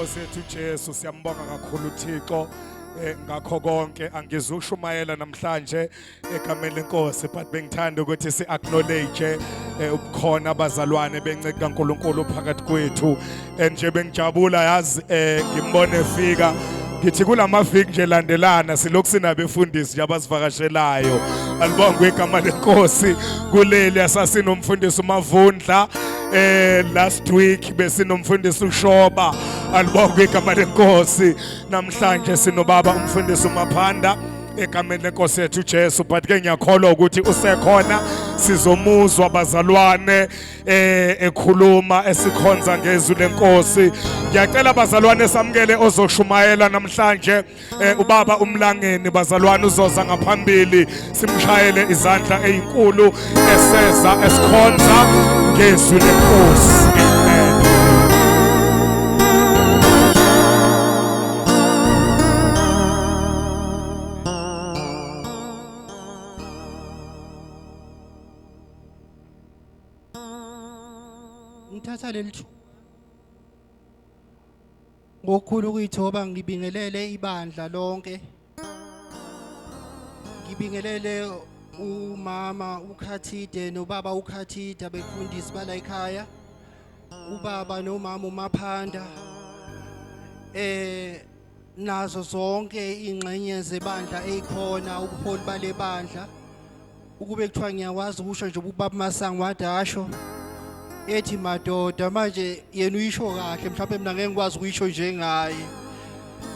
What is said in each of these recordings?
Nkosi yethu Jesu siyambonga kakhulu Thixo eh, ngakho konke angizushumayela namhlanje egameni lenkosi but bengithanda ukuthi si-acknowledge um eh, ubukhona abazalwane benceke kankulunkulu phakathi kwethu and nje bengijabula yazi um ngimbone efika ngithi kula maviki nje landelana silokhu sinabefundisi nje abasivakashelayo alibongwe igama lenkosi kuleli asasinomfundisi umavundla eh last week besinomfundisi ushoba alibonga igama lenkosi namhlanje sinobaba umfundisi umaphanda egameni lenkosi yethu Jesu but ke ngiyakholwa ukuthi usekhona sizomuzwa bazalwane eh ekhuluma esikhonza ngezwi lenkosi ngiyacela bazalwane samukele ozoshumayela namhlanje eh, ubaba umlangeni bazalwane uzoza ngaphambili simshayele izandla ezinkulu eseza esikhonza ngezwi lenkosi ngithatha leli thuba ngokukhulu ukuyithoba ngibingelele ibandla lonke ngibingelele umama ukhathide nobaba ukhathide abefundisi bala ekhaya ubaba nomama umaphanda eh nazo zonke ingxenye zebandla eyikhona ubuholi bale bandla ukube kuthiwa ngiyakwazi ukusho nje ubaba masango wade asho ethi madoda manje yena uyisho kahle mhlawumbe mina ngeke ngikwazi ukuyisho njengaye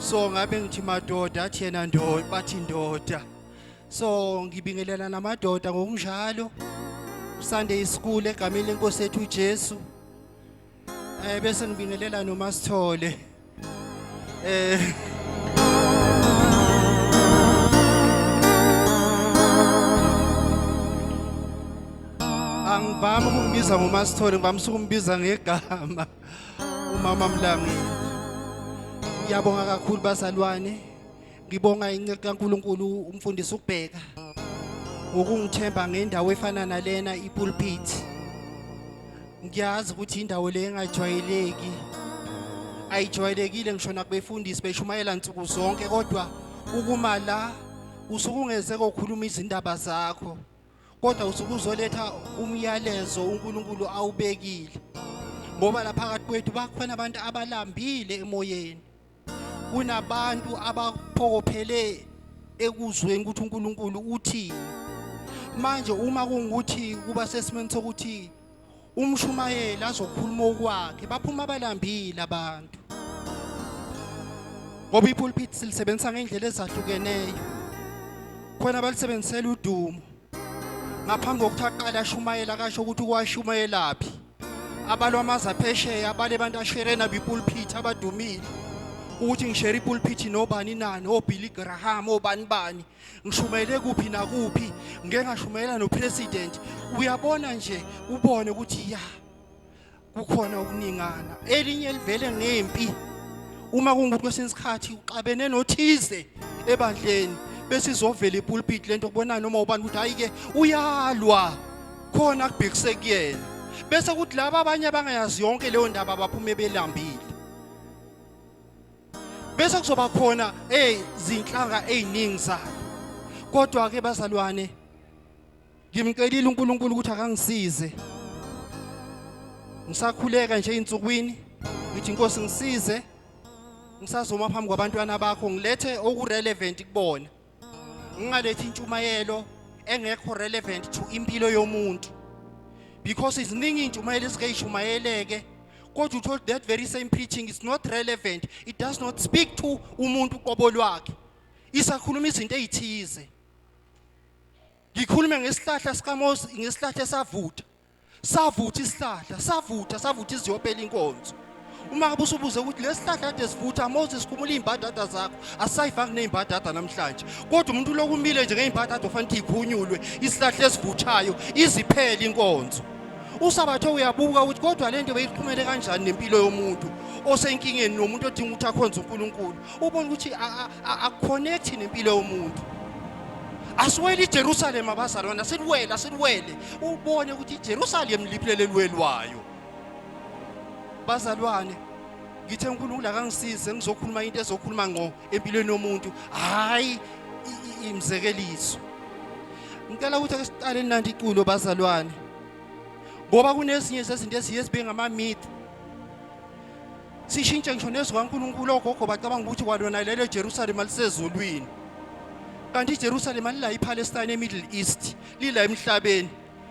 so ngabe ngithi madoda athi yena ndoda bathi ndoda so ngibingelela namadoda ngokunjalo Sunday school egameni lenkosi ethu uJesu Eh bese ngibingelela noma sithole. Eh Angivami ukumbiza ngoma sithole, ngivami ukumbiza ngegama. Umama Mlangeni. Ngiyabonga kakhulu bazalwane. Ngibonga incele kaNkulunkulu umfundisi ukubheka ukungithemba ngendawo efana nalena ipulpit. Ngiyazi ukuthi indawo le engajwayeleki. Ayijwayelekile ngisho nakubefundisi beshumayela nsuku zonke kodwa ukuma la usuke ungeze kokhuluma izindaba zakho kodwa usuke uzoletha umyalezo uNkulunkulu awubekile ngoba lapha phakathi kwethu bakhona abantu abalambile emoyeni kunabantu abaphokophele ekuzweni ukuthi uNkulunkulu uthini manje uma kungukuthi kuba sesimeni sokuthi umshumayeli azokhuluma okwakhe baphuma abalambile abantu ngoba ipulpit silisebenzisa ngendlela ezahlukeneyo khona balisebenzisela udumo ngaphambi kokuthi aqale ashumayela akasho ukuthi ukwashumayelaphi abalwa amazi aphesheya abale bantu asherena bipulpit abadumile ukuthi ngishere ipulpit nobani nani obilly graham obani bani ngishumayele kuphi nakuphi ngeke ngashumayela nopresident uyabona nje ubone ukuthi ya yeah. kukhona ukuningana elinye livele ngempi uma kungukuthi kwesinye isikhathi uxabene nothize ebandleni bese izovela ipulpit lento kubona noma ubani ukuthi hayi ke uyalwa khona kubhekise kuyena bese kuthi laba abanye abangayazi yonke leyo ndaba abaphume belambile bese kuzoba khona ezinhlanga eziningi zayo kodwa ke bazalwane ngimcelile uNkulunkulu ukuthi akangisize ngisakhuleka nje insukwini ngithi inkosi ngisize ngisazoma phambi kwabantwana bakho ngilethe okurelevant kubona ngingalethi intshumayelo engekho relevant to impilo yomuntu because iziningi intshumayelo esike ishumayeleke kodwa uthole that very same preaching is not relevant it does not speak to umuntu qobo lwakhe isakhuluma izinto ezithize ngikhulume ngesihlahla sikaMose ngesihlahla esavutha savutha isihlahla savutha savutha iziyophela inkonzo uma ngabe usubuze ukuthi lesihlahla kade sivutha Mose sikhumula izimbadada zakho asayifaki nezimbadada namhlanje kodwa umuntu lokumile nje ngezimbadada ofanele ikhunyulwe isihlahla esivuthayo iziphele inkonzo usabathe uyabuka ukuthi kodwa lento beyiqhumele kanjani nempilo yomuntu osenkingeni nomuntu odinga ukuthi akhonze uNkulunkulu ubona ukuthi akuconnect nempilo yomuntu asiwele iJerusalem abazalwana siwele asiwele ubone ukuthi iJerusalem liphilele lwelwayo bazalwane ngithe uNkulunkulu akangisize ngizokhuluma into ezokhuluma ngqo empilweni yomuntu hayi imzekeliso ngicela ukuthi ake siqale nandi iculo bazalwane ngoba kunezinye zezinto eziye zibe ngama myth sishintshe ngisho nezwi kaNkulunkulu ogogo bacabanga ukuthi kwalona lelo eJerusalema lisezulwini kanti iJerusalema lila iPalestine eMiddle East lila emhlabeni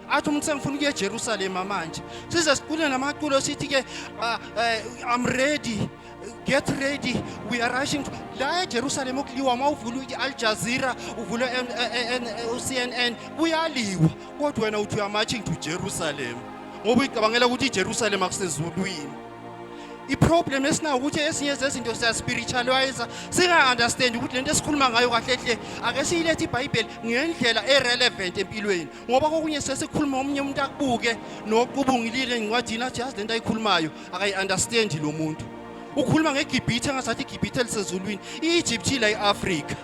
athi umuntu sengifuna ukuya eJerusalema manje size sicule namaculo sithi ke ah, eh, I'm ready get ready we are rushing to la eJerusalem okuliwa uma uvula i-Al Jazeera uvula uCNN kuyaliwa kodwa wena uthi uya marching to Jerusalem ngoba uyicabangela ukuthi iJerusalem akusezulwini iproblem esinayo ukuthi ezinye zezinto siyaspiritualiza singa-understandi ukuthi le nto esikhuluma ngayo kahle hle ake siyilethe ibhayibheli ngendlela e-relevant empilweni ngoba kokunye sesikhuluma omunye umuntu akubuke noqubungilile encwadini athi yazi le nto ayikhulumayo akayi-understandi lo muntu ukhuluma ngegibhithe angasathi igibhithe elisezulwini i-egypt ila i-afrika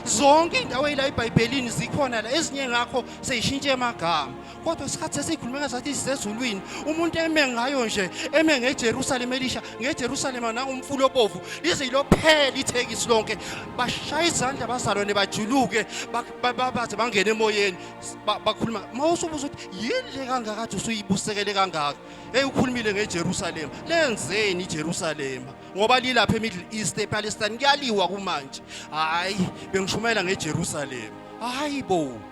zonke iy'ndawo eyila ebhayibhelini zikhona la ezinye ngakho seyishintshe amagama kodwa isikhathi sesiyikhulumela sathi isisezulwini umuntu eme ngayo nje eme ngejerusalema elisha ngejerusalema nangomfula obovu lize yilophela ithekisi lonke bashaya izandla abazalwane bajuluke baze bangene emoyeni bakhuluma ma usubuza ukuthi yini le kangakade usuyibusekele kangaka eyi ukhulumile ngejerusalema lenzeni ijerusalema ngoba lilapha emiddle east epalestine kuyaliwa kumanje hhayi bengishumayela ngejerusalema hhayi bo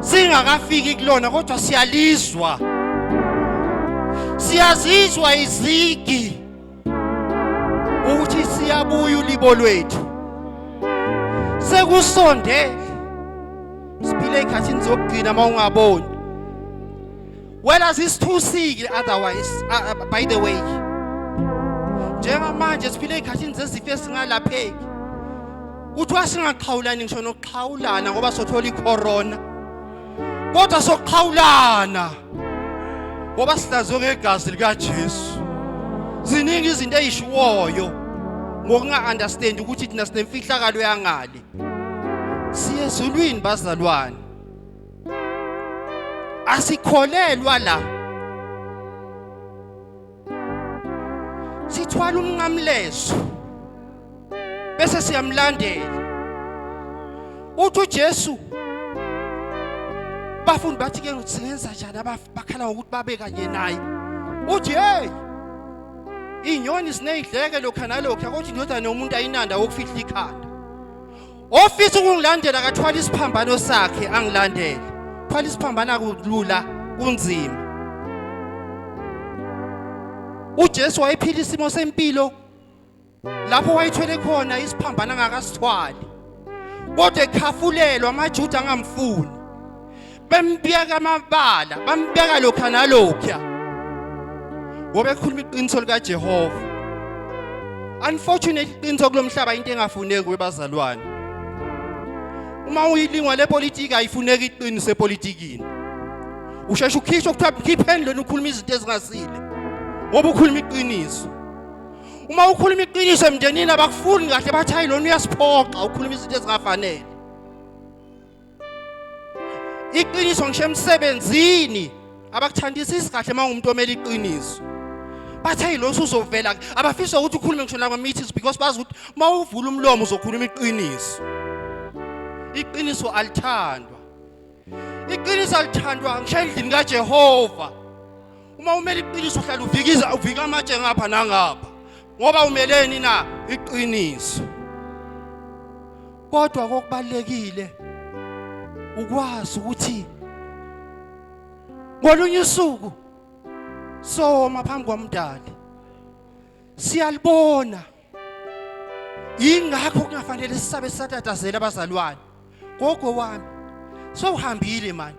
singakafiki kulona kodwa siyalizwa siyazizwa izigi ukuthi siyabuya ulibo lwethu sekusonde siphile ekhathini zokugcina uma ungaboni Whereas it's too sick otherwise uh, uh, by the way njengamanje siphile ezikhathini zezifo esingalapheki kuthiwa singaxhawulani ngisho nokuxhawulana ngoba sothola icorona kodwa sokuxhawulana ngoba sihlazwe ngegazi likaJesu ziningi izinto ezishiwoyo ngokunga-understand ukuthi thina sinemfihlakalo yangale siye ezulwini bazalwane asikholelwa la sithwala umnqamlezo bese siyamlandela uthi uJesu bafundi bathi ke ukuthi sengenza njani abakhala ngokuthi babe kanye naye uthi hey inyoni sineyidleke lokha nalokho yakuthi indodana yomuntu ayinanda ukufihla ikhanda ofisa ukungilandela akathwala isiphambano sakhe angilandele thwala isiphambano akulula kunzima uJesu wayephila isimo sempilo lapho wayithwele khona isiphambano angakasithwali kodwa ekhafulelwa amaJuda angamfuni bembiyeka amabala bambeka lokha nalokha ngoba ekhuluma iqiniso likaJehova unfortunately iqiniso kulomhlaba into engafuneki kwebazalwane uma uyilingwa lepolitiki ayifuneki iqiniso epolitikini usheshe ukhishwe kuthiwa mkhipheni lona ukhuluma izinto ezingasile ngoba ukhuluma iqiniso uma ukhuluma iqiniso emndenini abakufuni kahle bathi hayi lona uyasiphoxa ukhuluma izinto ezingafanele iqiniso ngisho emsebenzini abakuthandisisi kahle uma ungumuntu omele iqiniso bathi hey lo usuzovela abafisa ukuthi ukhulume ngisho nakwa meetings because bazi ukuthi uma uvula umlomo uzokhuluma iqiniso iqiniso alithandwa iqiniso alithandwa ngisho endlini kaJehova uma umele iqiniso uhlala uvikiza uvika amatshe ngapha nangapha ngoba umeleni na iqiniso kodwa kokubalekile ukwazi ukuthi ngolunye usuku soma phambi kwamdali siyalibona ingakho kungafanele sisabe satatazela abazalwane gogo wami sowuhambile manje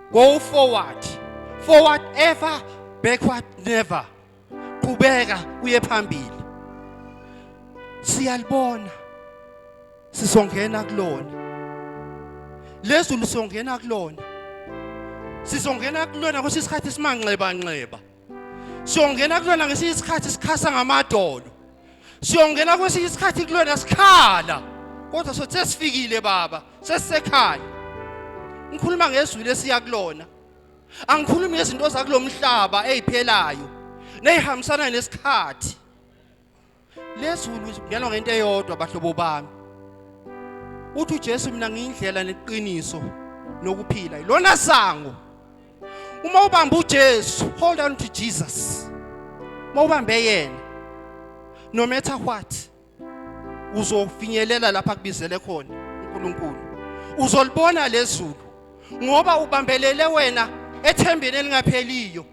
Go forward. Forward ever, backward never. Qhubeka uye phambili. Siyalibona. Sisongena kulona. Lezulu songena kulona. Sizongena kulona kusisikhathi simanxeba nxeba. siyongena kulona ngesinye isikhathi sikhasa ngamadolo siyongena kwesinye isikhathi kulona sikhala kodwa sothi sesifikile baba sesisekhaya ngikhuluma ngezwi lesiya kulona angikhulumi ngezinto zakulomhlaba eziphelayo nezihambisana nesikhathi lezulu zibuyelwa ngento eyodwa bahlobo bami uthi uJesu mina ngiyindlela neqiniso nokuphila ilona sango uma ubamba uJesu hold on to Jesus uma ubambe yena no matter what uzofinyelela lapha kubizele khona uNkulunkulu uzolibona lezulu ngoba ubambelele wena ethembeni elingapheliyo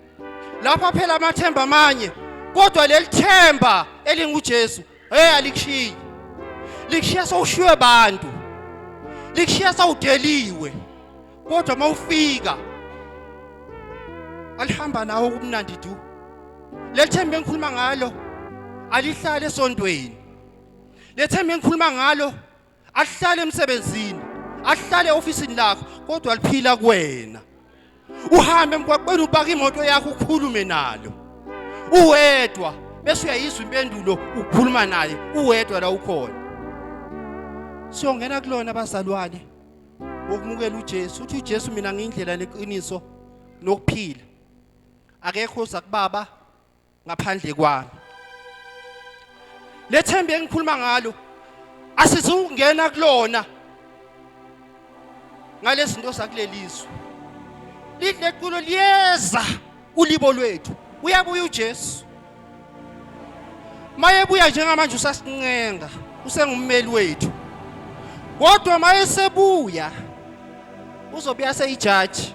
lapha phela amathemba amanye kodwa leli themba elinguJesu hey alikushiyi likushiya sowushiywe abantu likushiya sawudeliwe kodwa mawufika alihamba nawe ubumnandi du lethemba engikhuluma ngalo alihlale esontweni lethemba engikhuluma ngalo ahlale emsebenzini ahlale ofisini lakho kodwa liphila kuwena uhambe emgwaqweni ubaka imoto yakho ukhulume nalo uwedwa bese uyayizwa impendulo ukukhuluma naye uwedwa la ukhona siyongena kulona abazalwane wokumukela uJesu uthi uJesu mina ngiyindlela neqiniso nokuphila akekho oza kubaba ngaphandle kwami lethemba engikhuluma ngalo asizungena kulona ngalezinto zakulelizwe lidlekulo liyeza ulibo lwethu uyabuya uJesu mayebuya njengamanje usasincenga usengummeli wethu kodwa mayesebuya uzobuya seyijaji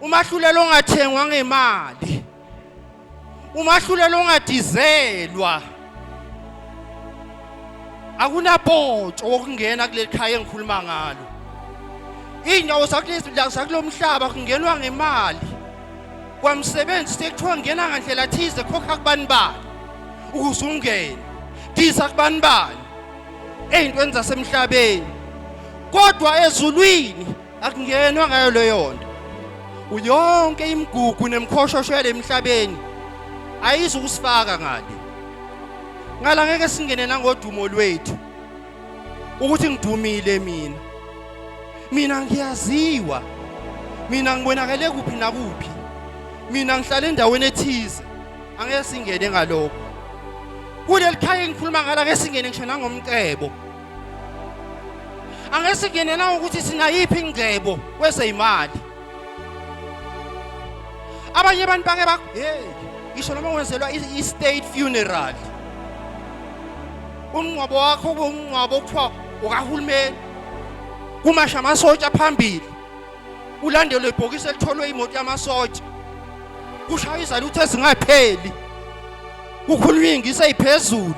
umahlulelo ongathengwa ngemali umahlulelo ongadizelwa akunapotsho wokungena kuleli khaya engikhuluma ngalo iy'ndawo zakulo mhlaba kungenwa ngemali kwamsebenzi sekuthiwa ngena ngandlela thize khokha kubani bani ukuze ungene disa kubani bani ey'ntweni zasemhlabeni kodwa ezulwini akungenwa ngayo leyo nto uyonke imigugu nemkhoshosho yalemhlabeni ayizi ukusifaka ngale ngala ngeke singene nangodumo lwethu ukuthi ngidumile mina mina ngiyaziwa mina ngibonakele kuphi nakuphi mina ngihlala endaweni ethize angeke singene ngalokho kuleli khaya engikhuluma ngala ngeke singene ngisho nangomcebo Angeke singene na ukuthi sinayiphi ingcebo kwezeyimali. Abanye abantu bake ba hey ngisho noma wenzelwa i-state funeral. Umngcwabo wakho ubungcwabo kuthiwa ukahulumeni. Kumasha amasotsha phambili. ulandelwe ibhokisi elitholwe imoto yamasotsha kushaya izalutho ezingapheli kukhulunywa ingisi eyiphezulu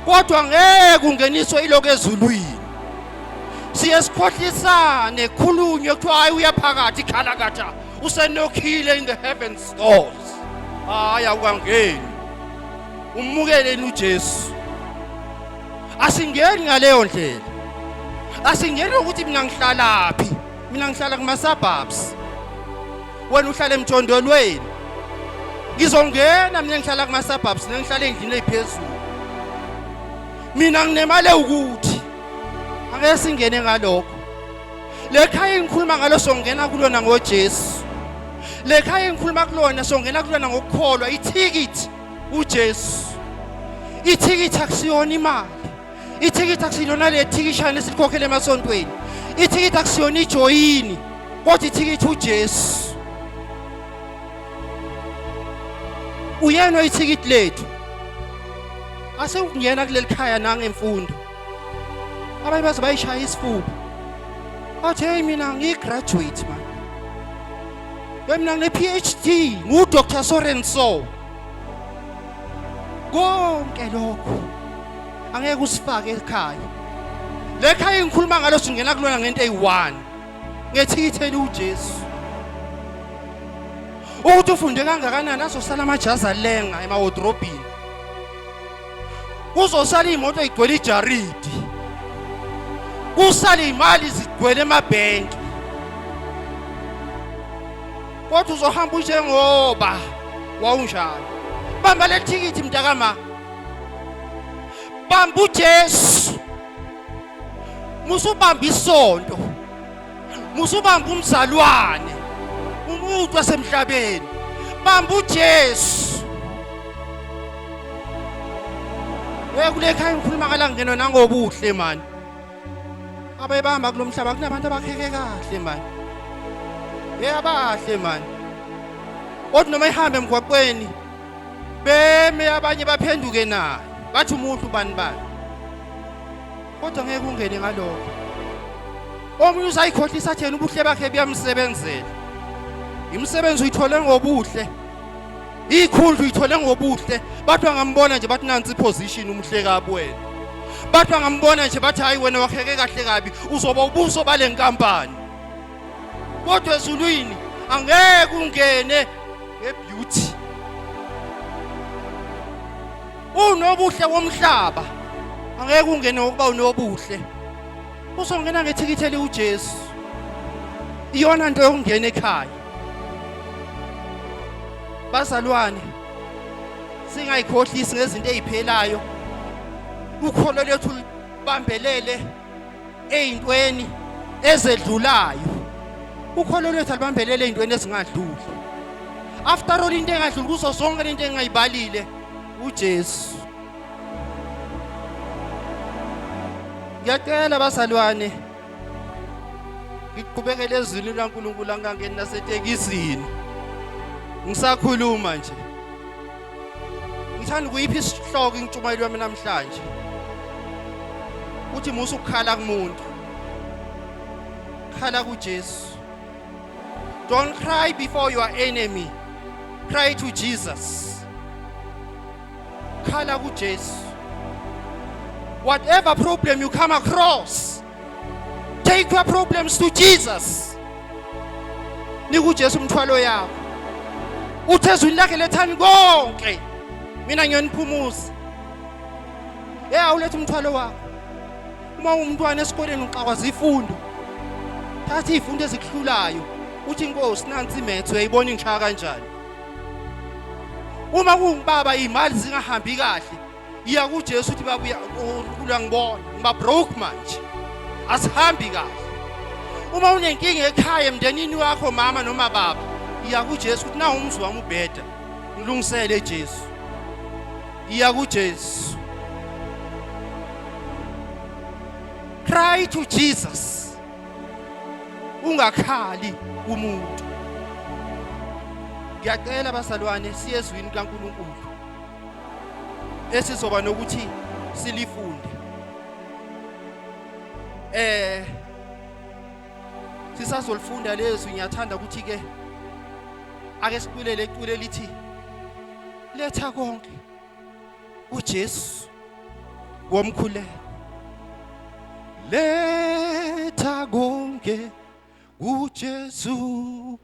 kodwa ngeke ungeniswe iloko ezulwini siye sikhohlisane khulunywe kuthiwa hayi uyaphakathi ikhalakatha usenokhile in the heavens doors hayi awukangeni ummukeleni ujesu asingeni ngaleyo ndlela asingeni ukuthi mina ngihlalaphi mina ngihlala kuma-suburbs wena uhlala emjondolweni ngizongena mina ngihlala kuma-suburbs nengihlala endlini eyiphezulu mina nginemali ewukuthi angeke singene ngalokho le khaya engikhuluma ngalo songena kulona ngojesu le khaya engikhuluma kulona songena kulona ngokukholwa ithikithi uJesu ithikithi akusiyona imali ithikithi akusilona le thikishana esikhokhele emasontweni ithikithi akusiyona ijoyini kodwa ithikithi uJesu uyena oyithikithi lethu ase ukungena kuleli khaya nangemfundo abanye baze bayishaya isifuba athi hey mina ngiyi graduate man Mina ngine-PhD nguDr Sorenso. Konke lokho angeke usifake ekhaya. Le khaya engikhuluma ngalo singena kulona ngento eyi-1 ngethikithi eliwuJesu. Ukuthi ufunde kangakanani azosala amajazi alenga emawodrobhini. kuzosala iy'moto igcwele ijaridi kusale iy'mali zigcwele emabhenki kodwa uzohamba unjengoba wawunjalo bamba le thikithi mntakama bamba ujesu musubamba isonto musubamba umzalwane umuntu wasemhlabeni bamba uJesu we kule khaya ngikhuluma kala ngeno nangobuhle mani abebamba kulomhlaba kunabantu abakheke kahle mani hey abahle mani kodwa noma ihambe emgwaqweni beme abanye baphenduke naye bathi umuntu bani bani kodwa ngeke ungene ngalokho omunye usayikhohlisa athena ubuhle bakhe buyamsebenzela imisebenzi uyithole ngobuhle ikhundla uyithole ngobuhle bathi angambona nje bathi nansi position umhle kabwena bathi angambona nje bathi hayi wena wakheke kahle kabi uzoba ubuso balenkampani kodwa ezulwini angeke ungene ngebeauty unobuhle womhlaba angeke ungene ngokuba unobuhle usongena ngethikithi eliwuJesu iyona nto yokungena ekhaya bazalwane singayikhohlisi ngezinto eziphelayo ukholo lethu libambelele eyintweni ezedlulayo ukholo lwethu alubambelele eyintweni ezingadluli after all into engadluli kuzo zonke lento engayibalile uJesu ngiyacela bazalwane ngiqhubekele ezwini likaNkulunkulu angangeni nasetekisini ngisakhuluma nje Ngithanda ukuyiphi isihloko intshumayelo yami namhlanje. Uthi musa ukukhala kumuntu. Khala kuJesu. Don't cry before your enemy. Cry to Jesus. Khala kuJesu. Whatever problem you come across, Take your problems to Jesus. Nikujesu umthwalo yakho. Uthe ezwini lakhe lethani konke. Mina ngiyoniphumuza. Hey awulethe umthwalo wakho. Uma umntwana esikoleni uxakwaza ifundo. Thatha izifundo ezikuhlulayo. Uthi inkosi nansi imethe uyayibona ingishaya kanjani. Uma kungibaba imali zingahambi kahle iya kuJesu uthi babuya uNkulunkulu angibona ngiba broke manje asihambi kahle uma unenkinga ekhaya emndenini wakho mama noma baba iya kuJesu uthi nawu umzi wami ubheda ngilungisele Jesu iya kuJesu cry to Jesus ungakhali umuntu ngiyacela basalwane siyezwini kaNkuluNkulu esizoba nokuthi silifunde eh sisazolifunda lezwi ngiyathanda ukuthi ke ake siculele icule lithi letha konke uJesu womkhuleko letha konke uJesu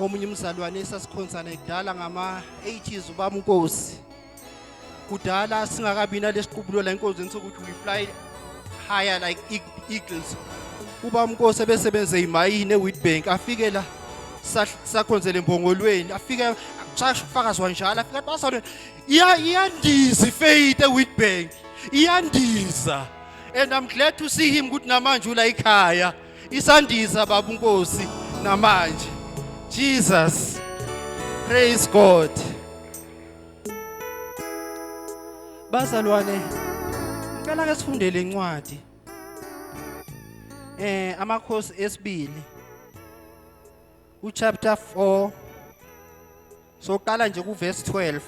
omunye umzalwane esasikhonzana kudala ngama-80s ubaba unkosi kudala singakabi nalesiqubulo la enkonzweni sokuthi we fly higher like eagles uba umnkosi ebesebenze imayini ewitbank afike la sakhonzele mbongolweni afike shasho ufakazi wanjalo afike athi basalo iyandiza ifaith ewitbank iyandiza and i'm glad to see him ukuthi namanje ula ikhaya Isandisa baba uNkosi namanje. Jesus. Praise God. Bazalwane, ngicela ke sifundele incwadi. Eh amakhosi esibili. U chapter 4 soqala nje ku verse 12.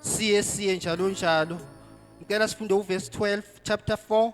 Siye siye njalo njalo. Ngicela sifunde u verse 12 chapter 4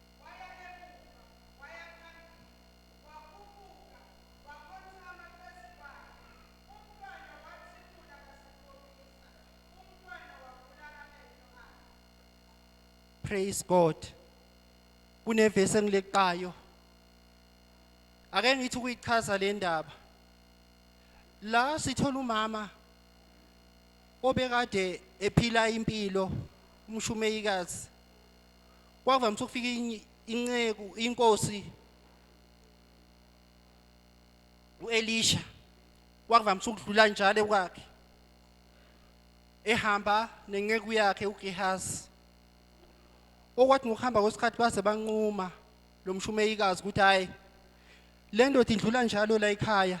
waya emuva, waya phambili, wakhuphuka, wakhothama phezu kwakhe. Umntwana wathimula kasikhombisa, umntwana wavula amehlo akhe. Praise God. Kunevesi engileqayo. Ake ngithi ukuyichaza le ndaba. La sithola umama obekade ephila impilo umshumeyikazi kwavamise ukufika inye- inceku inkosi uElisha kwavamise ukudlula njalo ekwakhe ehamba nenceku yakhe uGehazi okwathi ngokuhamba kwesikhathi baze banquma lo mshumeyikazi ukuthi hayi le ndoda idlula njalo la ekhaya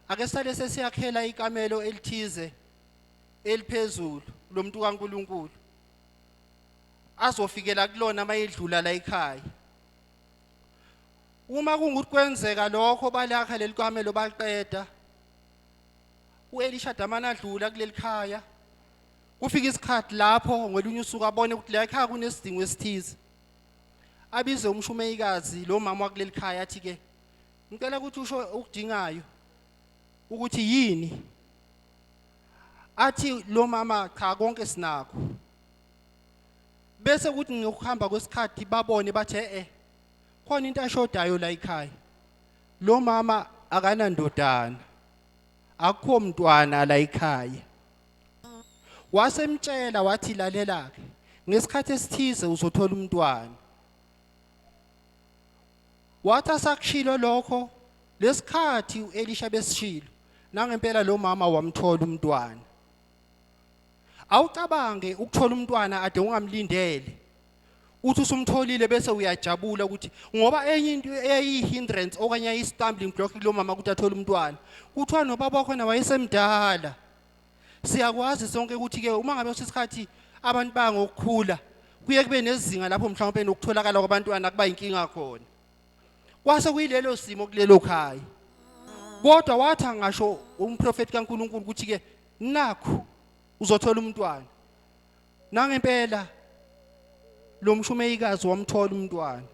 ake sale sesiyakhela ikamelo elithize eliphezulu lo muntu kaNkuluNkulu azofikela kulona mayedlula la ekhaya uma kungukuthi kwenzeka lokho balakha leli kamelo baqeda uElisha damana adlula kuleli khaya kufika isikhathi lapho ngolunye usuku abone ukuthi la ekhaya kunesidingo esithize abize umshumeyikazi lo mama wakuleli khaya athi ke ngicela ukuthi usho ukudingayo ukuthi yini athi lo mama cha konke sinakho bese kuthi ngokuhamba kwesikhathi babone bathi eh khona into ashodayo la ekhaya lo mama akanandodana akukho mntwana la ekhaya wasemtshela wathi lalela-ke ngesikhathi esithize uzothola umntwana Wathi asakushilo lokho lesikhathi uElisha besishilo nangempela lo mama wamthola umntwana. Awucabange ukuthola umntwana ade ungamlindele. Uthi usumtholile bese uyajabula ukuthi ngoba enye into eyayihindrance okanye ayistumbling block kulomama ukuthi athole umntwana. Kuthiwa nobaba wakho na wayesemdala. siyakwazi sonke ukuthi ke uma ngabe usisikhathi abantu bangokukhula kuye kube nezinga lapho mhlawumbe nokutholakala kwabantwana kuba inkinga khona kwase kuyilelo simo kulelo khaya kodwa watha ngasho umprofeti kaNkuluNkulu ukuthi ke nakho uzothola umntwana nangempela lo mshumeyikazi wamthola umntwana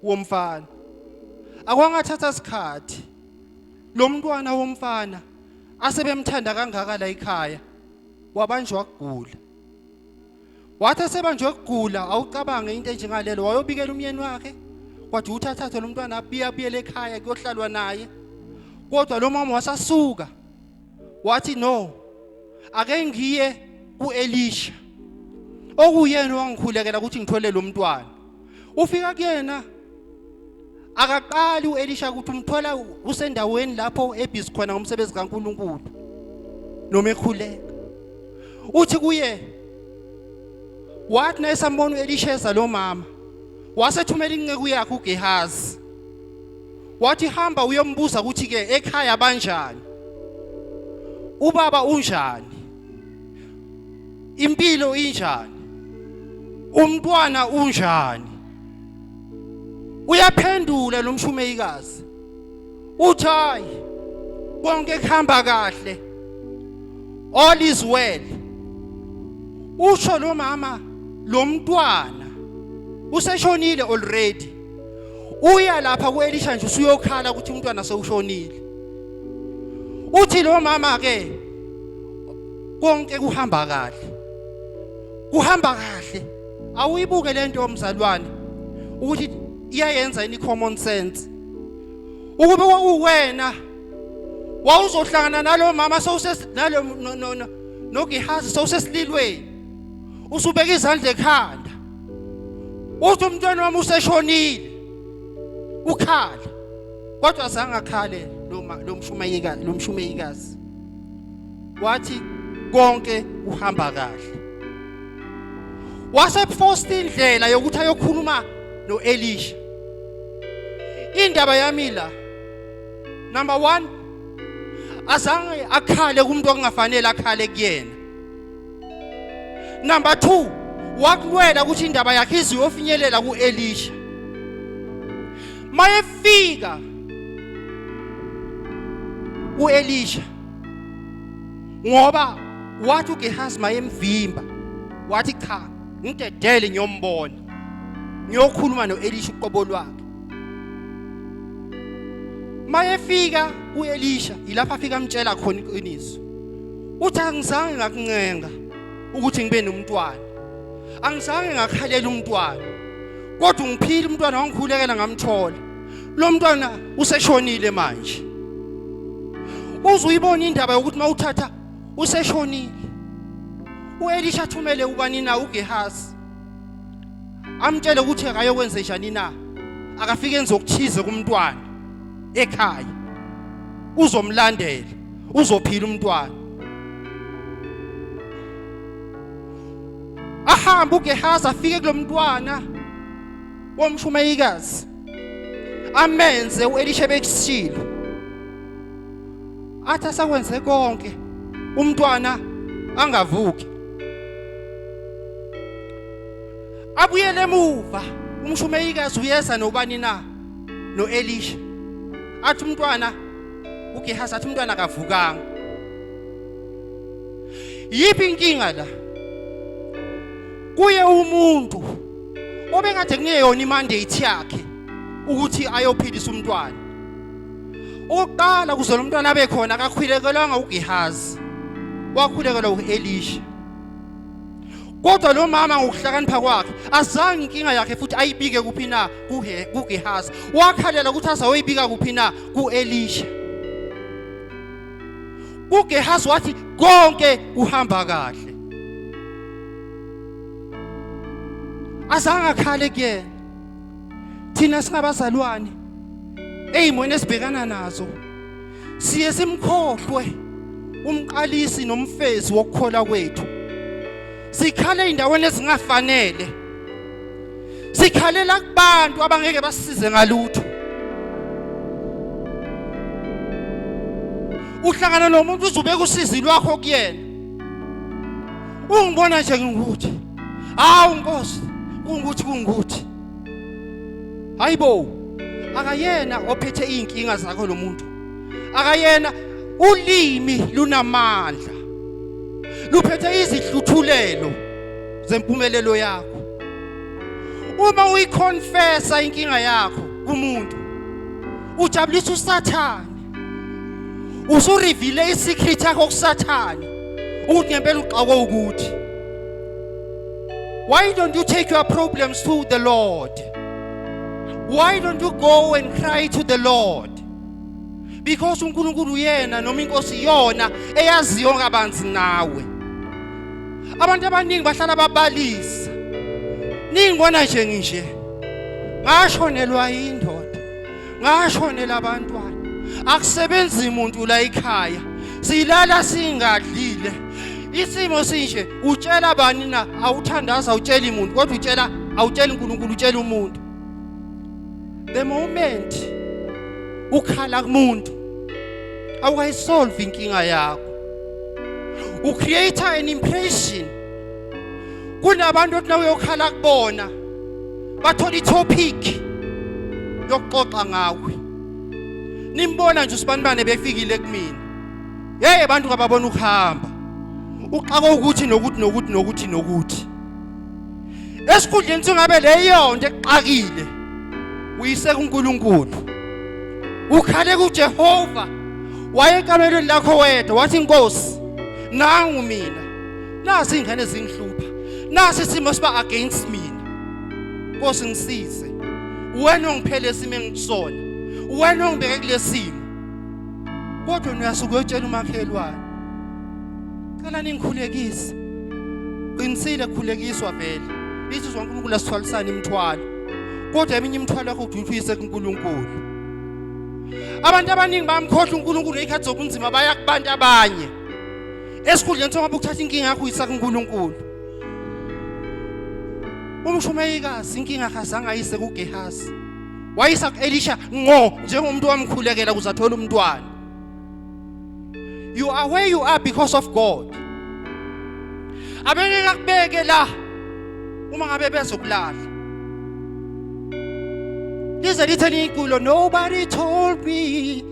womfana akwangathatha isikhathi lo mntwana womfana asebemthanda kangaka la ekhaya wabanjwa kugula wathi esebanjwe kugula awucabange into enjengalelo wayobikela umyeni wakhe kwathi uthathathe lo mntwana abuyabuyela ekhaya kuyohlalwa naye kodwa lo mama wasasuka wathi no ake ngiye kuElisha okuyena wangikhulekela ukuthi ngithole lo mntwana ufika kuyena akaqali uElisha ukuthi umthola usendaweni lapho ebhizi khona ngomsebenzi kaNkuluNkulu noma ekhuleka uthi kuye wathi nayesambona uElisha eza lo mama wasethumela inceku yakhe uGehazi wathi hamba uyombuza ukuthi ke ekhaya banjani ubaba unjani impilo injani umntwana unjani uyaphendula lo mshumeyikazi uthi hayi konke kuhamba kahle all is well usho lo mama lo mntwana useshonile already uya lapha kuElisha nje usuyokhala ukuthi umntwana sewushonile uthi lo mama ke konke kuhamba kahle kuhamba kahle awuyibuke lento yomzalwane ukuthi iyayenza ini common sense ukube kwakuwena wawuzohlangana nalomama sowuse nalo no no no nogihazi sowusesililweni usubeka izandla ekhanda uthi umntwana wami useshonile ukhala kodwa zange akhale lo mshumayikazi lo mshumayikazi wathi konke uhamba kahle waseposta indlela yokuthi ayokhuluma noElisha indaba yami la number 1 azange akhale kumuntu okungafanele akhale kuyena number 2 wakulwela ukuthi indaba yakhe iziyofinyelela kuElisha mayefika uElisha ngoba wathi uGehazi mayemvimba wathi cha ngidedele ngiyombona ngiyokhuluma noElisha uqobo lwakhe mayefika uElisha yilapha afika amtshela khona iqiniso uthi angizange ngakuncenga ukuthi ngibe nomntwana angizange ngakhalela umntwana kodwa ungiphile umntwana wangikhulekela ngamthola lo mntwana useshonile manje uzuyibona indaba yokuthi mawuthatha useshonile uElisha athumele ubani na uGehasi amtshele ukuthi akayokwenze njani na akafike enze okuthize kumntwana ekhaya uzomlandela uzophila umntwana ahamba uGehazi afike kulomntwana womshumayikazi amenze uElisha bekusile athi asakwenze konke umntwana angavuki abuyele emuva umshumayikazi uyeza nobani na noElisha athi umntwana uGehazi athi umntwana akavukanga yiphi inkinga la kuye umuntu obengade kungeyona imandate yakhe ukuthi ayophilisa umntwana oqala kuzona umntwana abe khona akakhulekelwanga uGehazi wakhulekelwa uElisha Kodwa lo mama ngokuhlakanipha kwakhe azange inkinga yakhe futhi ayibike kuphi na kuGehazi. Wakhalela ukuthi azayoyibika kuphi na kuElisha. UGehazi wathi konke kuhamba kahle. Azange akhale kuyena. Thina singabazalwane ezimweni esibhekana nazo siye simkhohlwe umqalisi nomfezi wokukhola kwethu sikhale indaweni ezingafanele sikhalela kubantu abangeke basize ngalutho uhlangana nomuntu uzubeka usizi lwakho kuyena ungibona nje ngingukuthi hawu nkosi kungukuthi kungukuthi hayibo akayena ophethe izinkinga zakho lo muntu akayena ulimi lunamandla luphethe izihluthulelo zempumelelo yakho uma uyiconfessa inkinga yakho kumuntu ujabulisa usathane usurivile isecret yakho kusathane ukuthi ngempela uxakwe ukuthi why don't you take your problems to the lord why don't you go and cry to the lord because uNkulunkulu uyena noma inkosi iyona eyaziyo kabanzi nawe abantu abaningi bahlala babalisa ningibona nje nginje ngashonelwa yindoda ngashonela abantwana akusebenzi muntu la ikhaya silala singadlile isimo sinje utshela bani na awuthandaza utshela imuntu kodwa utshela awutshela uNkulunkulu utshela umuntu the moment ukhala kumuntu awukayisolve inkinga yakho ucreate an impression kunabantu othi nawe uyokhala kubona bathola itopic yokuxoxa ngawe nimbona nje usibanibane befikile kumina hey abantu kababona ukuhamba uxaka ukuthi nokuthi nokuthi nokuthi nokuthi esikhundleni singabe leyo nto exakile uyise kuNkulunkulu ukhale kuJehova wayekamelweni lakho wedwa wathi inkosi nangu mina nasi ingane zingihlupha nasi isimo siba against mina Nkosi ngisize wena ongiphele isimo engisona wena ongibeke kulesimo kodwa uyasuka uyotshela umakhelwane cela ningikhulekise qinisile khulekiswa vele ithi zonke uNkulunkulu asithwalisana imithwalo kodwa eminye imithwalo yakho udutshise kuNkulunkulu abantu abaningi bamkhohlwa uNkulunkulu ngekhathi zobunzima baya kubantu abanye esikhundleni sokuba ukuthatha inkinga yakho uyisa kuNkulunkulu umshumeyikazi inkinga akazange ayise kuGehazi wayisa kuElisha ngo njengomuntu wamkhulekela kuze athole umntwana you are where you are because of God abeke kakubeke la uma ngabe bezokulala lize lithe nikulo nobody told me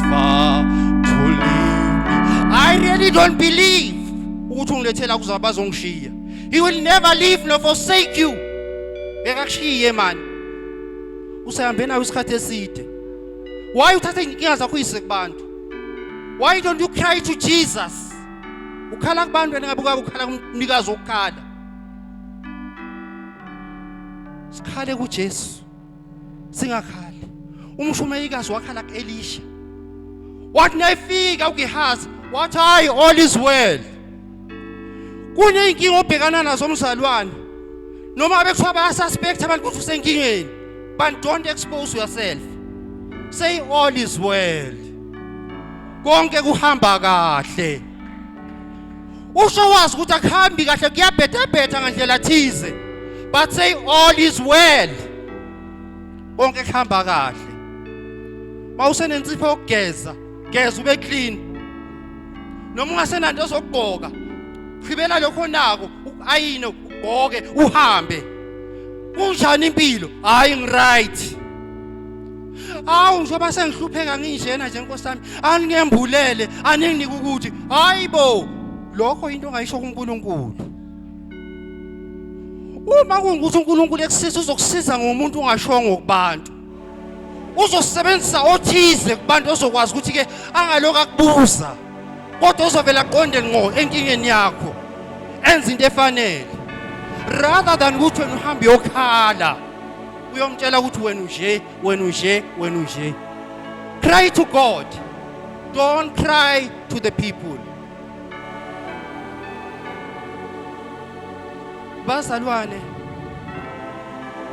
far to leave me. I really don't believe ukuthi ungilethela kuza bazongishiya. He will never leave nor forsake you. Bekakushiye mani. Usehambe nawe isikhathi eside. Why uthatha inkinga zakho uyise kubantu? Why don't you cry to Jesus? Ukhala kubantu wena ngabuka ukhala kumnikazi okukhala. Sikhale kuJesu. singakhali umshumeyikazi wakhala kuElisha wathi nayifika uGehazi wathi hayi all is well kuneyinkinga obhekana nazo umzalwane noma bekuthiwa bayasuspect abantu ukuthi usenkingeni but don't expose yourself say all is well konke kuhamba kahle usho wazi ukuthi akuhambi kahle kuyabhethebhetha ngandlela thize but say all is well konke kuhamba kahle mawusenensipho yokugeza geza ube clean noma ungasenanto ozokugqoka khibela lokho nako ayine ugqoke uhambe kunjani impilo hayi ngiright Awu njengoba sengihlupheka nginjena nje Nkosi yami, aningembulele, aninginike ukuthi hayibo lokho into ongayisho kuNkulunkulu. Uma kungukuthi uNkulunkulu ekusiza uzokusiza ngomuntu ungashongo kubantu. Uzosebenzisa othize kubantu ozokwazi ukuthi ke angaloku akubuza. Kodwa uzovela aqonde ngqo enkingeni yakho. Enza into efanele. Rather than ukuthi wena uhambe yokhala. uyomtshela ukuthi wena unje wena unje wena unje cry to god don't cry to the people bazalwane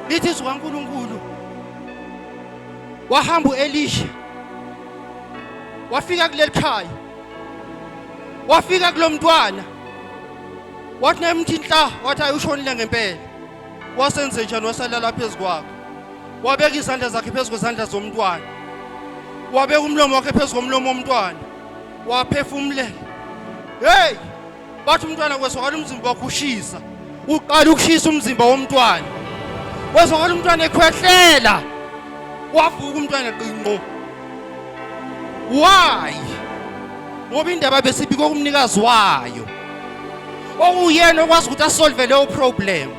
lithi zikaNkuluNkulu wahamba uElisha wafika kuleli khaya wafika kulomntwana wathi nayimthi inhla wathi ayushonile ngempela wasenze njani wasalala phezu kwakho wabeka izandla zakhe phezu kwezandla zomntwana wabeka umlomo wakhe phezu komlomo womntwana waphefumulela hey bathi umntwana kwesokala umzimba wakho ushisa uqala ukushisa umzimba womntwana kwesokala umntwana ekhwehlela wavuka umntwana qinqo why ngoba indaba besibika kumnikazi wayo okuyena okwazi ukuthi asolve leyo problem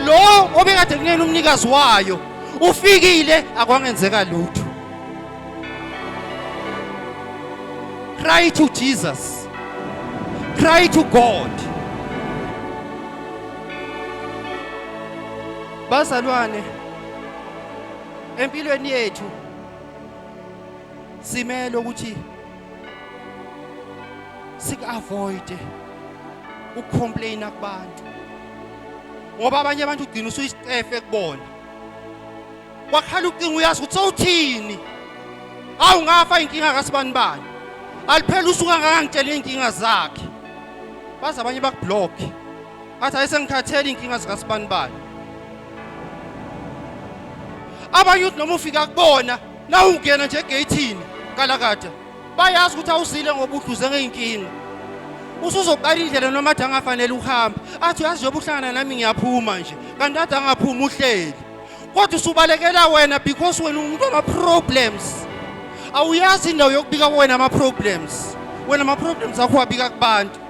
lo obekade kunena umnikazi wayo ufikile akwangenzeka lutho cry to Jesus cry to God bazalwane Empilweni yethu simele ukuthi sikuavoide ukucomplaina kubantu. Ngoba abanye abantu ugcina usuyisicefe kubona. Wakhala ucingo uyazi ukuthi sowuthini. Awu ngafa inkinga kasibani bani. Aliphela usuka ngangangitshela inkinga zakhe. Baze abanye bakublock. Athi ayisengikhathele inkinga zika sibani bani. Abanye uthi noma ufika kubona na ungena nje egate kalakade. Bayazi ukuthi awusile ngoba udluze ngeinkinga. Usuzoqala indlela noma athi angafanele uhamba. Athi uyazi njengoba uhlangana nami ngiyaphuma nje. Kanti athi angaphuma uhleli. Kodwa usubalekela wena because wena umuntu ama problems. Awuyazi indawo yokubika wena ama problems. Wena ama problems akho wabika kubantu.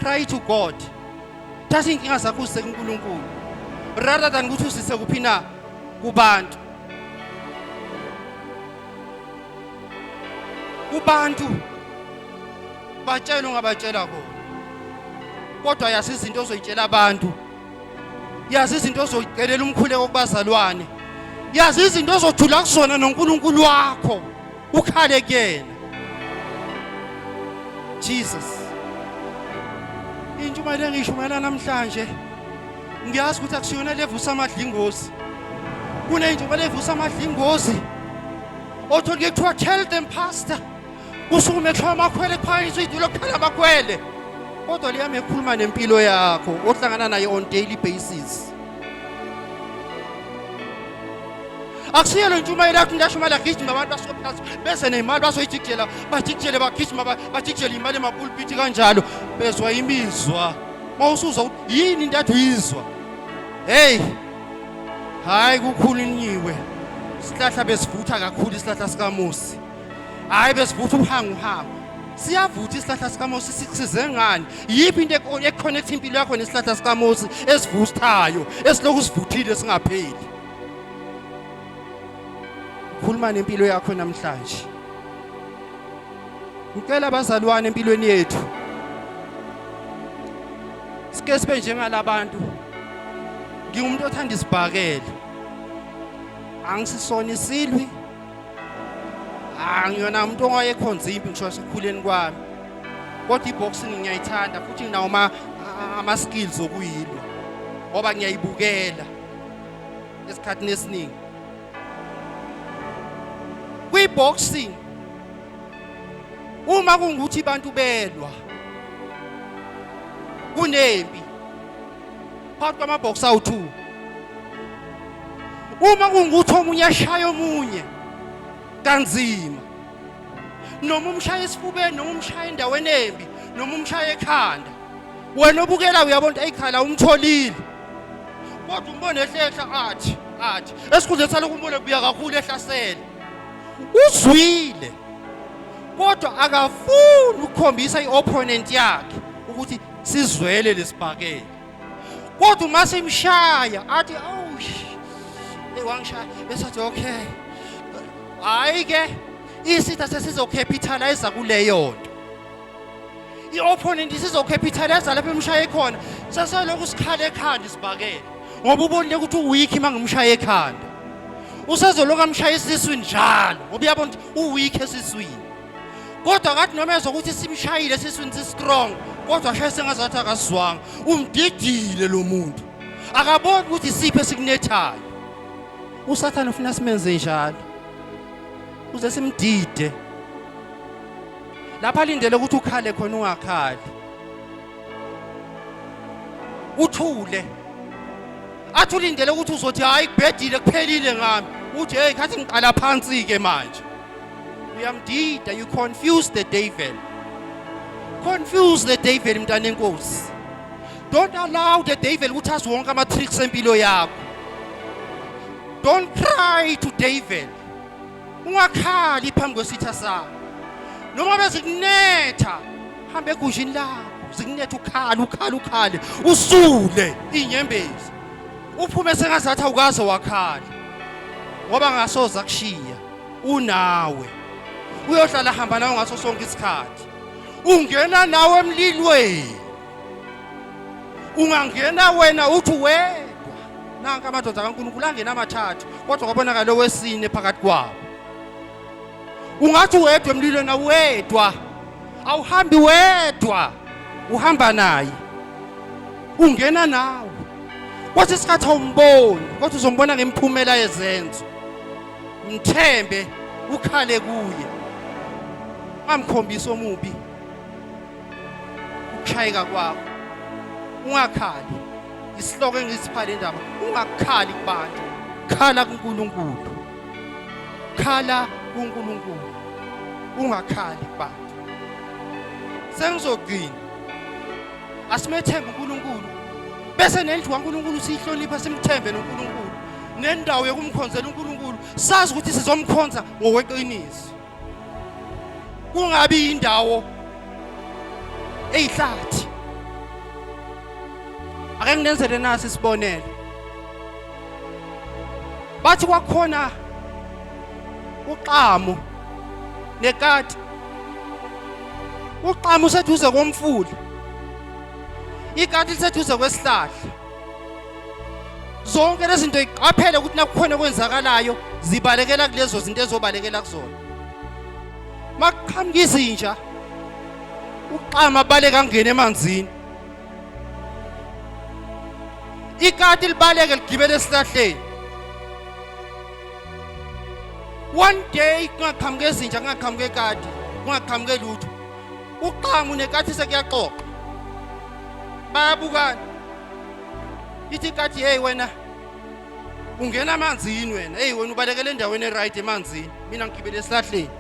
cry to god thatha iy'nkinga zakho uzise kunkulunkulu rather than ukuthi uzise kuphi na kubantu kubantu batshela ungabatshela kona kodwa yazi izinto ozoyitshela abantu yazi izinto ozoyicelela umkhuleko kubazalwane yazi izinto ozothula kuzona noNkulunkulu wakho ukhale kuyena Jesus intshumayelo engishumayela namhlanje ngiyazi ukuthi akusiyona levusa amadlingozi kunentshumayelo evusa amadlingozi othola kuthiwa tell them pastor kusukume kuthiwa amakhwele kuphakanyiswa idulo kuphela amakhwele kodwa liyami ekhuluma nempilo yakho ohlangana nayo on daily basis akusiyo le ntshumayelo yakho ngashumayela agijima abantu basophasi beze nemali bazoyijikijela bajikijele bagijima bajikijele imali emapulpiti kanjalo bezwa imizwa uma usuzwa ukuthi yini into athi uyizwa heyi hhayi kukhulunyiwe isihlahla besivutha kakhulu isihlahla sikamosi hhayi besivutha uhangu uhangu siyavutha isihlahla sikamosi sikusize ngani yiphi into ekhonekthi impilo yakho nesihlahla sikamosi esivuthayo esilokhu sivuthile singapheli khuluma nempilo yakho namhlanje ngicela abazalwane empilweni yethu sike sibe njengalabantu ngingumuntu othanda isibhakela angisisona isilwi angiyona umuntu owayekhonza impi ngisho sekukhuleni kwami kodwa iboxing ngiyayithanda futhi nginawo ama skills okuyilwa ngoba ngiyayibukela esikhathini esiningi kwi-boxing uma kungukuthi abantu belwa kunempi phakathi kwamabhoksi awu-two uma kungukuthi omunye ashaya omunye kanzima noma umshaya esifubeni noma umshaya endaweni embi noma umshaya ekhanda wena obukela uyabona ukuthi ayikhaya la umtholile kodwa umbone ehlehla athi athi esikhundleni salokhu umbone kubuya kakhulu ehlasele uzwile kodwa akafuni ukukhombisa i-opponent yakhe ukuthi sizwele lesibhakela kodwa uma simshaya athi awu hey wangishaya bese athi okay hayi ke isitha sesizokhepitalize kuleyo nto i-opponent isizokhepithaliza lapho imshaye khona seselokhu sikhala ekhanda isibhakele ngoba ubonile ukuthi uweak uma ngimshaye ekhanda usezoloku amshaye esiswini njalo ngoba uyabona ukuthi uweak esiswini kodwa kathi noma ezwa ukuthi simshayile esiswini si-strong kodwa ashaye sengazathi akazwanga umdidile lo muntu akaboni ukuthi isiphi esikunethayo usathane ufuna simenze njalo uze simdide lapha alindele ukuthi ukhale khona ungakhali uthule athi ulindele ukuthi uzothi hayi kubhedile kuphelile ngami uthi hey ngathi ngiqala phansi ke manje uyamdida you confuse the devil confuse the devil mntana enkosi don't allow the devil ukuthi azi wonke ama tricks empilo yakho don't cry to devil ungakhali phambi kwesitha sakho noma bezikunetha hambe egujini lakho zikunetha ukhala ukhala ukhale usule inyembezi uphume sengazathi awukaze wakhala ngoba ngasoza kushiya unawe uyohlala hamba nawe ngaso sonke isikhathi ungena nawe emlilweni ungangena wena uthi wedwa nanka amadoda kaNkulunkulu angena amathathu kodwa kwabonakala owesine phakathi kwabo ungathi wedwa emlilweni awedwa awuhambi wedwa uhamba naye ungena nawe kwathi isikhathi awumboni kodwa uzombona ngemiphumela yezenzo mthembe ukhale kuye ungamkhombisi omubi ukushayeka kwakho ungakhali isihloko engisipha le ndaba ungakhali kubantu khala kuNkulunkulu khala kuNkulunkulu ungakhali kubantu sengizogcina asimethembe uNkulunkulu bese nendlu kaNkulunkulu siyihlonipha simthembe noNkulunkulu nendawo yokumkhonzela uNkulunkulu sazi ukuthi sizomkhonza ngokweqiniso kungabi indawo eyihlathi ake nginenzele nasi isibonelo bathi kwakhona uxamu nekati uxamu useduze komfula ikati liseduze kwesihlahla zonke lezi zinto iqaphele ukuthi nakukhona okwenzakalayo zibalekela kulezo zinto ezobalekela kuzona makuqhamuka izinja uqama baleka ngene emanzini ikati libaleke ligibele esihlahleni one day kungaqhamuka ezinja kungaqhamuka ekati kungaqhamuke lutho Uqangu nekathi sekuyaxoxa. Bayabukana. Ithi kathi hey wena ungena amanzini wena hey wena ubalekele endaweni eright emanzini mina ngigibele esihlahleni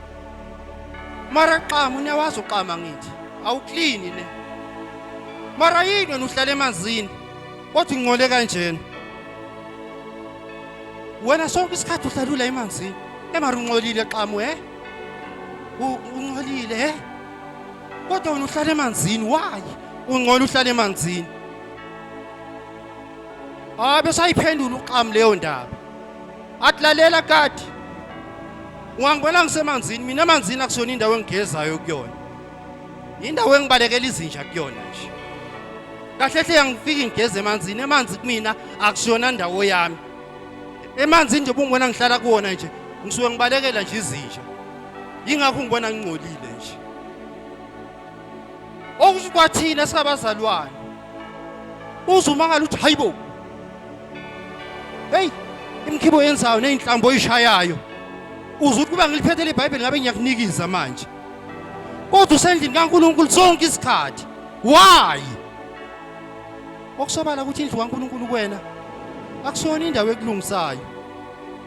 mara qama unewazi uqama ngithi awuklini le mara yini wena uhlala emanzini kodwa ungcole kanjena wena sonke isikhathi uhlalula emanzini emara uncolile qama eh Uncolile he? Kodwa wena uhlala emanzini why? Ungcola uhlala emanzini. Ah bese ayiphendula uxam leyo ndaba. Atlalela kati. Ungangibona ngisemanzini mina emanzini akusona indawo engigezayo kuyona. Indawo engibalekela izinja kuyona nje. Kahle hle yangifika ngigeze emanzini emanzi kumina akusona ndawo yami. emanzini nje bungibona ngihlala kuwona nje ngisuke ngibalekela nje izinja yingakho ngibona ngingcolile nje okusho kwathina sikabazalwane uzumangala ukuthi hayibo heyi imkhibo yenzayo neyinhlambo oyishayayo uze ukuthi kuba ngiliphethele ibhayibheli ngabe ngiyakunikiza manje kodwa usendlini kaNkulunkulu sonke isikhathi why Okusobala ukuthi indlu kaNkulunkulu kuwena akusona indawo ekulungisayo.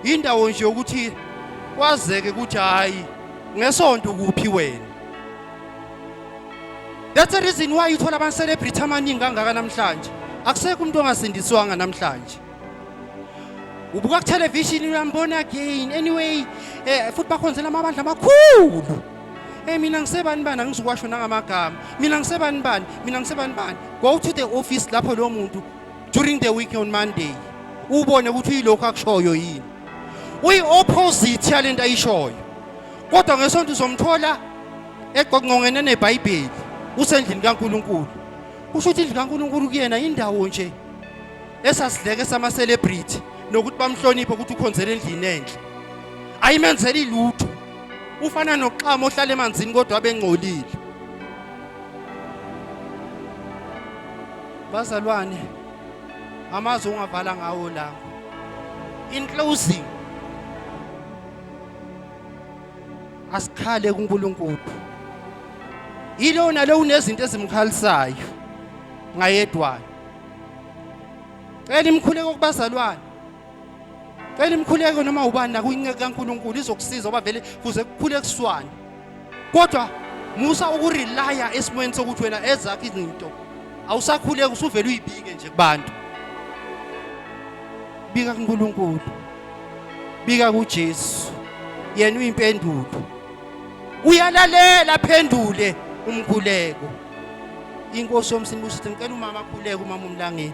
Indawo nje ukuthi kwazeke ukuthi hayi ngesonto kuphi wena. That's the reason why uthola ama celebrity amaningi kangaka namhlanje. Akusekho umuntu ongasindiswanga namhlanje. ubuka kuthelevishini uyambona again anyway um futhi bakhonzela amabandla amakhulu Hey mina ngisebani bani angizukwasho nangamagama. Mina ngisebani bani? Mina ngisebani bani? Go to the office lapho lo muntu during the week on Monday. Ubone ukuthi uyilokho akushoyo yini. Uyi opposite yalento ayishoyo. Kodwa ngesonto uzomthola egqongqongene neBhayibheli usendlini kaNkuluNkulu. Usho ukuthi indlu kaNkuluNkulu kuyena indawo nje. esasidleke sama-celebrity nokuthi bamhloniphe ukuthi ukhonzela endlini enhle ayimenzeli lutho ufana noxama ohlala emanzini kodwa abengcolile bazalwane amazwi ongavala ngawo la in closing asikhale kuNkulunkulu yilona lo unezinto ezimkhalisayo ngayedwana cela imkhuleko kubazalwane cela imkhuleko noma ubani la kuyinceku kaNkuluNkulu izokusiza oba vele kuze kukhule kuswane kodwa musa ukurelaya esimweni sokuthi wena ezakhe izinto awusakhuleki usuvele uyibike nje kubantu bika kuNkulunkulu bika kuJesu yena uyimpendulo uyalalela phendule umkhuleko inkosi yomsini kusho ukuthi ngicela umama akhuleke umama umlangeni